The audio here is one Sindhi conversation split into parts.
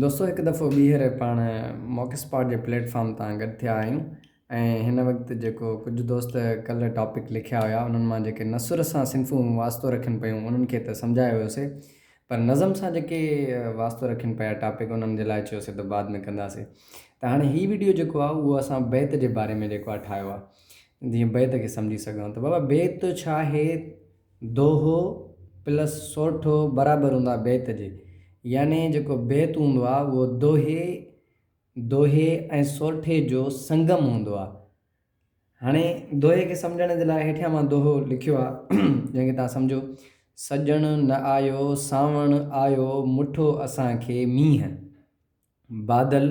دوستو هڪ دفعو ٻيهر پاڻ موڪ اسپاٽ جي پليٽ فارم تان گڏ ٿيا آهيون ۽ هن وقت جيڪو ڪجهه دوست ڪلهه ٽاپڪ لکيا هيا انهن مان جيڪي نثر سان صنفون واسطو رکين پيون انهن کي ته سمجهايو هيوسي پر نظم سان جيڪي واسطو رکين پيا ٽاپڪ انهن جي لاء چيوسي ته بعد ۾ ڪنداسي ته هاڻي هي ويڊيو جيڪو آهي اهو اسان بيت جي باري ۾ جيڪو آهي ٺاهيو آهي جيئن بيت کي سمجهي سگهون ته بابا بيت ڇا آهي دوهو پلس سورٺو برابر هوندو آهي بيت جي. يعني جيڪو بيت هوندو آهي اهو دوهي، دوهي ۽ سورٺي جو سنگم هوندو آهي. هاڻي دوهي کي سمجهڻ جي لاء هيٺيان مان دوهو لکيو آهي، جنهن کي توهان سمجهو. سڄڻ نه آيو، سانوڻ آيو، مٺو اسان کي مينهن. بادل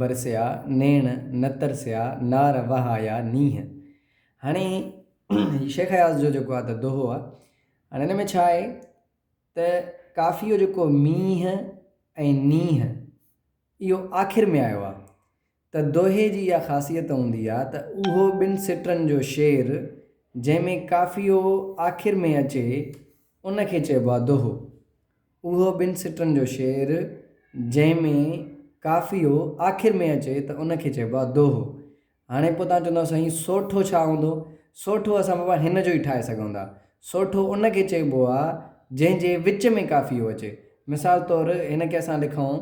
برسيا نيڻ نه ترسيا نار وهايا نينهن هاڻي هي شيخ اياز جو جيڪو آهي ته دوهو آهي هاڻي هن ۾ ڇا آهي ته ڪافيء جو جيڪو مينهن ۽ نينهن اهو آخر ۾ آيو آهي ته دوهي جي اها خاصيت هوندي آهي ته اهو ٻن سٽرن جو شعر جنهن ۾ ڪافيو آخر ۾ اچي ان کي چئبو آهي دوهو. اهو ٻن سٽرن جو شعر، جنهن ۾ قافيو آخر ۾ اچي ته ان کي چئبو آهي دوهو. هاڻي پوء توهان چوندؤ سائين سوٺو ڇا هوندو؟ سوٺو اسان بابا هن جو ئي ٺاهي سگهون ٿا. سوٺو ان کي چئبو آهي جنهن جي وچ ۾ قافيو اچي. مثال طور هن کي اسان لکون،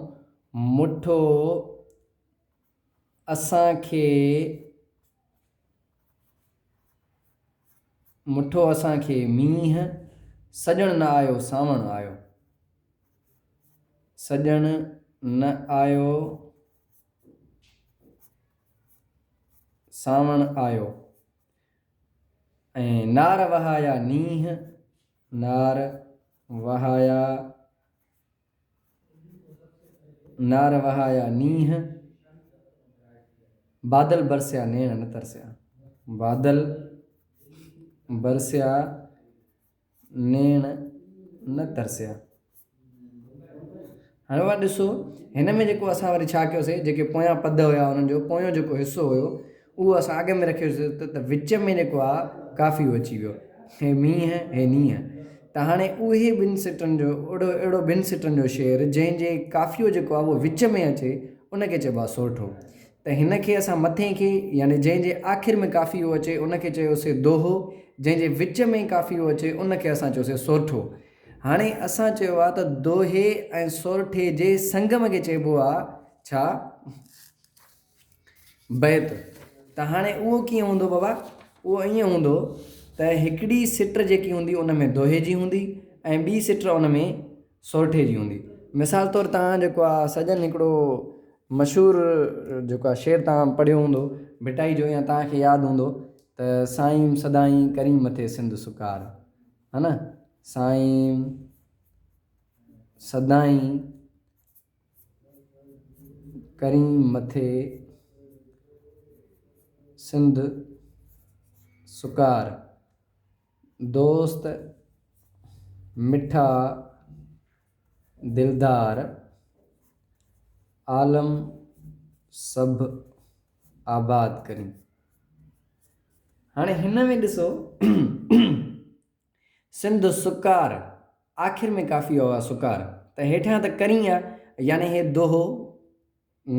مٺو. اسان کي مٺو اسان کي مينهن، سڄڻ نه آيو سانوڻ آيو. سڄڻ نه آيو سانوڻ آيو ۽ نار وهايا نينهن، نار وهايا. نار وهايا نينهن، بادل برسيا نيڻ نه ترسيا. بادل برسيا نيڻ نه ترسيا. هاڻي اوهان ڏسو هن ۾ جيڪو اسان وري ڇا ڪيوسي جيڪي پويان پد هيا انهن جو پويون جيڪو حصو هيو اهو اسان اڳ ۾ رکيوسي ته وچ ۾ جيڪو آهي ڪافيو اچي ويو هي مينهن هي نينهن ته هاڻي اهي ٻن سٽن جو اهڙو اهڙو ٻن سٽن جو شعر جنهن جي ڪافيو جيڪو آهي اهو وچ ۾ اچي ان کي چئبو آهي سورٺو ته هن کي اسان مٿي کي يعني جنهن جي آخر ۾ ڪافيو اچي ان کي چيوسي دوهو جنهن جي وچ ۾ ڪافيو اچي ان کي اسان چيوسي سورٺو هاڻي اسان چيو آهي ته دوهي ۽ سورٺي جي سنگم کي چئبو آهي ڇا؟ بيت، ته هاڻي اهو ڪيئن هوندو بابا؟ اهو ائين هوندو ته هڪڙي سٽر جيڪي هوندي ان ۾ دوهي جي هوندي ۽ ٻي سٽر ان ۾ سورٺي جي هوندي. مثال طور توهان جيڪو آ سڄڻ هڪڙو مشهور جيڪو آ شعر توهان پڙهيو هوندو ڀٽائي جو يا توهان کي ياد هوندو ته سائيم سدائين ڪرين مٿي سنڌ سڪار ها نه سائيم سدائين ڪرين مٿي سنڌ سڪار، دوست مٺا دلدار، عالم سڀ آباد ڪرين. هاڻي هن ۾ ڏسو سنڌ سڪار، آخر ۾ ڪافي هو آ سڪار، ته هيٺيان ته ڪرين آ، يعني هي دوهو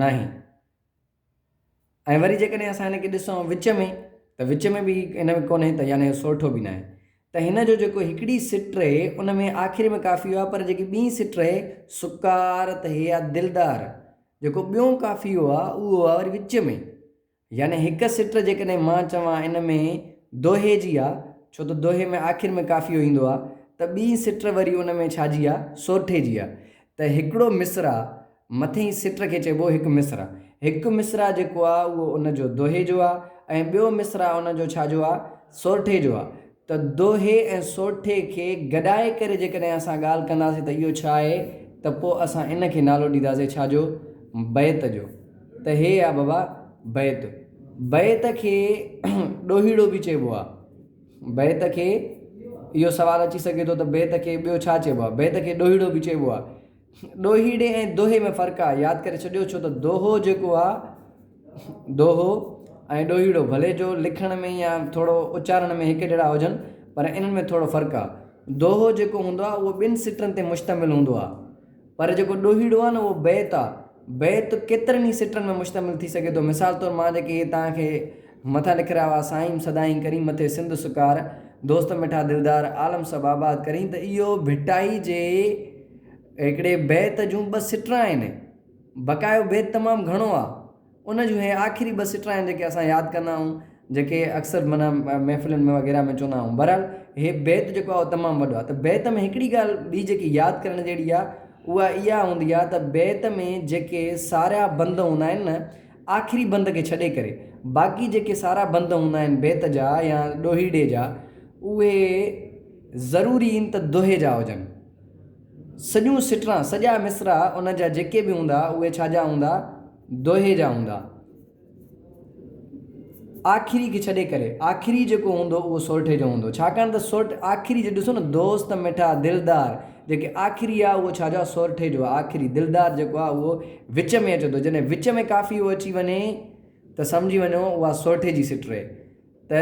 ناهي. ۽ وري جيڪڏهن اسان هن کي ڏسون وچ ۾ ته وچ ۾ به هن ۾ ڪونهي ته يعني هي سورٺو به ناهي. ته هن جو جيڪو هڪڙي سٽ رهي ان ۾ آخر ۾ ڪافي هو آ پر جيڪي ٻين سٽ رهي سڪار ته هي آ دلدار جيڪو ٻيون ڪافي هو آ اهو هو آ وري وچ ۾. يعني هڪ سٽر جيڪڏهن مان چوان ان ۾ دوهي جي آ، ڇو ته دوهي ۾ آخر ۾ قافيو ايندو آ، ته ٻي سٽر وري ان ۾ ڇا جي آ، سورٺي جي آ، ته هڪڙو مصرع مٿئين سٽر کي چئبو هڪ مصرع. هڪ مصرع جيڪو آ اهو ان جو دوهي جو آ ۽ ٻيو مصرع ان جو ڇا جو آ، سورٺي جو آ، ته دوهي ۽ سوٽي کي گڏائي ڪري جيڪڏهن اسان ڳالهه ڪنداسين ته اهو ڇا آهي ته پوء اسان ان کي نالو ڏينداسين ڇا جو؟ بيت جو. ته هي آ بابا بيت. بيت کي ڏوهيڙو به چئبو آ. بيت کي اهو سوال اچي سگهي ٿو ته بيت کي ٻيو ڇا چئبو آ؟ بيت کي ڏوهيڙو به چئبو آ. ڏوهيڙي ۽ دوهي ۾ فرق آ ياد ڪري ڇڏيو ڇو ته دوهو جيڪو آ دوهو ۽ ڏوهيڙو ڀلي جو لکڻ ۾ يا ٿورو اچارڻ ۾ هڪ جهڙا هجن پر انهن ۾ ٿورو فرق آ دوهو جيڪو هوندو آ اهو ٻن سٽرن تي مشتمل هوندو آ پر جيڪو ڏوهيڙو آ نه اهو بيت آ بيت ڪيترن ئي سٽرن ۾ مشتمل ٿي سگهي ٿو مثال طور مان جيڪي هي توهان کي مٿا لک رھيا ھئا سائين سدائين ڪرين مٿي سنڌ سڪار دوست مٺا دلدار عالم سڀ آباد ڪرين ته اھو ڀٽائي جي ھڪڙي بيت جون ٻه سٽرا آھن بقايو بيت تمام گھڻو آ ان جون اھي آخري ٻه سٽرا آھن جيڪي اسان ياد ڪندا آھون جيڪي اڪثر معنيٰ محفلن ۾ وغيره ۾ چوندا آھون بھرحال اھي بيت جيڪو آ اھو تمام وڏو آ ته بيت ۾ ھڪڙي ڳالھ ٻي جيڪي ياد ڪرڻ جھڙي آ اھا اھا ھوندي آ ته بيت ۾ جيڪي سارا بند ھوندا آھن نه آخري بند کي ڇڏي ڪري باقي جيڪي سارا بند هوندا آهن بيت جا يا ڏوهيڙي جا اهي ضروري ان ته دوهي جا هجن. سڄون سٽران، سڄا مصرع ان جا جيڪي به هوندا اهي ڇا جا هوندا؟ دوهي جا هوندا. آخري کي ڇڏي ڪري آخري جيڪو هوندو اهو سورٺي جو هوندو ڇاڪاڻ ته سورٺ آخري جي ڏسو نه دوست مٺا دلدار جيڪي آخري آ اهو ڇا جو آ سورٺي جو آ آخري دلدار جيڪو آ اهو وچ ۾ اچو ٿو جڏهن وچ ۾ ڪافي اهو اچي وڃي ته سمجهي وڃو اها سورٺي جي سٽ رهي ته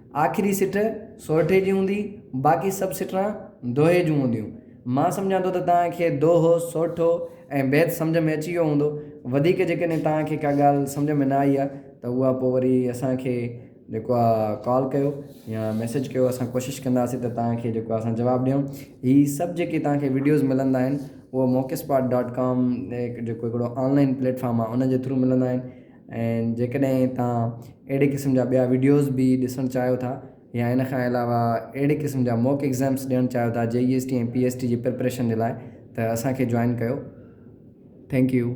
آخري سٽ سورٺي جي هوندي، باقي سڀ سٽران دوهي جون هونديون. مان سمجهان ٿو ته توهان کي دوهو، سورٺو ۽ بيت سمجهه ۾ اچي ويو هوندو. وڌيڪ جيڪڏهن توهان کي ڪا ڳالهه سمجهه ۾ نه آئي آهي ته اها پوء وري اسان کي جيڪو آهي ڪال ڪيو يا ميسيج ڪيو اسان ڪوشش ڪنداسين ته توهان کي جيڪو آهي اسان جواب ڏيون. هي سڀ جيڪي توهان کي وڊيوز ملندا آهن اهو موقعسپاٽ ڊاٽ ڪام جيڪو هڪڙو آن لائن پليٽ فارم آهي ان جي ٿرو ملندا آهن. ۽ جيڪڏهن توهان اهڙي قسم جا ٻيا وڊيوز به ڏسڻ چاهيو ٿا يا ان کان علاوه اهڙي قسم جا موڪ ايگزامس ڏيڻ چاهيو ٿا J E S T ۽ P S T جي پريپريشن جي لاء ته اسان کي جوائن ڪيو ٿينڪ يو